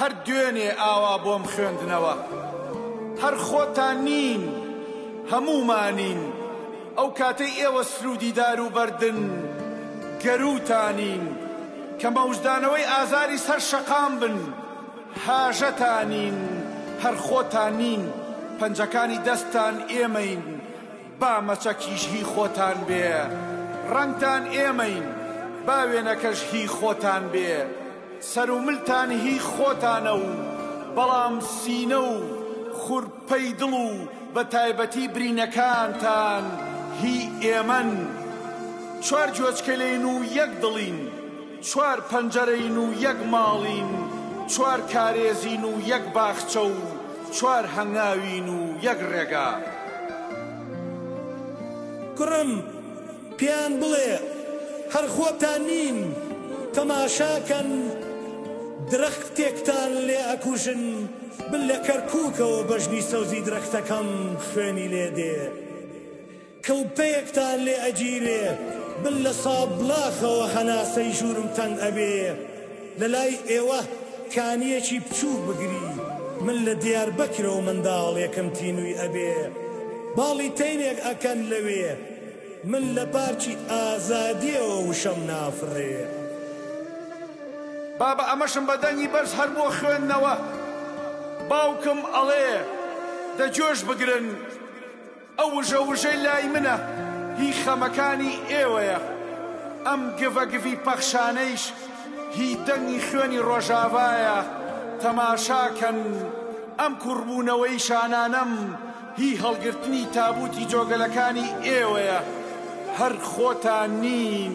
هەر دوێنێ ئاوا بۆم خوێندنەوە. هەر خۆتان نین هەموومانین. ئەو کاتەی ئێوە سروودی دار و بەردن گەرووتانین. کە مەوجدانەوەی ئازاری سەر شەقام بن هاژەتانین. هەر خۆتان نین پەنجەکانی دەستتان ئێمەین. با مەچەکیش هی خۆتان بێ ڕەنگتان ئێمەین با وێنەکەش هی خۆتان بێ سەر و ملتان هی خۆتانە و بەڵام سینە و خورپەی دڵ و بە تایبەتی برینەکانتان هی ئێمەن چوار گوێچکەلین و یەک دڵین چوار پەنجەرەین و یەک ماڵین، چوار کارێزین و یەک باخچە و چوار هەنگاوین و یەک ڕێگا. کوڕم، پێیان بڵێ، هەر خۆتان نین، تەماشاکەن درەختێکتان لێ ئەکوژن، بل لە کەرکووکەوە بەژنی سەوزی درەختەکەم خوێنی لێ دێ. کڵپەیەکتان لێ ئەگیرێ من لە سابڵاخەوە هەناسەی ژوورم تەنگ ئەبێ لەلای ئێوه کانیەکی بچووک بگری من لە دیاربەکرەوە منداڵێکم تینووی ئەبێ باڵی تەینێک ئەکەن لەوێ من لە پارکی ئازادیەوە وشەم نافڕێ. بابە ئەمەشم بە دەنگی بەرز هەر بۆ خوێندنەوە باوکم ئەڵێ دە جۆش بگرن. ئەو وژە وژەی لای منە هی خەمەکانی ئێوەیە، ئەم گڤە گڤی پەخشانەیش هی دەنگی خوێنی ڕۆژاڤایە، تەماشاکەن ئەم کوڕبوونەوەی شانانەم هی هەڵگرتنی تابووتی جۆگەلەکانی ئێوەیە، هەر خۆتان نین.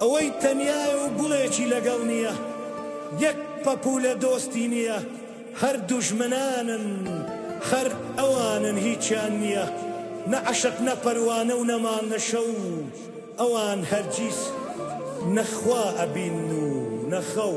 ئەوەی تەنیایە و گوڵێکی لەگەڵ نییە یەک پەپوولە دۆستی نییە هەر دوژمنانن خەر ئەوانن هیچیان نییە نە عەشق نە پەروانە و نە مانگ نە شەو ئەوان هەرگیز نە خوا ئەبین و نە خەو.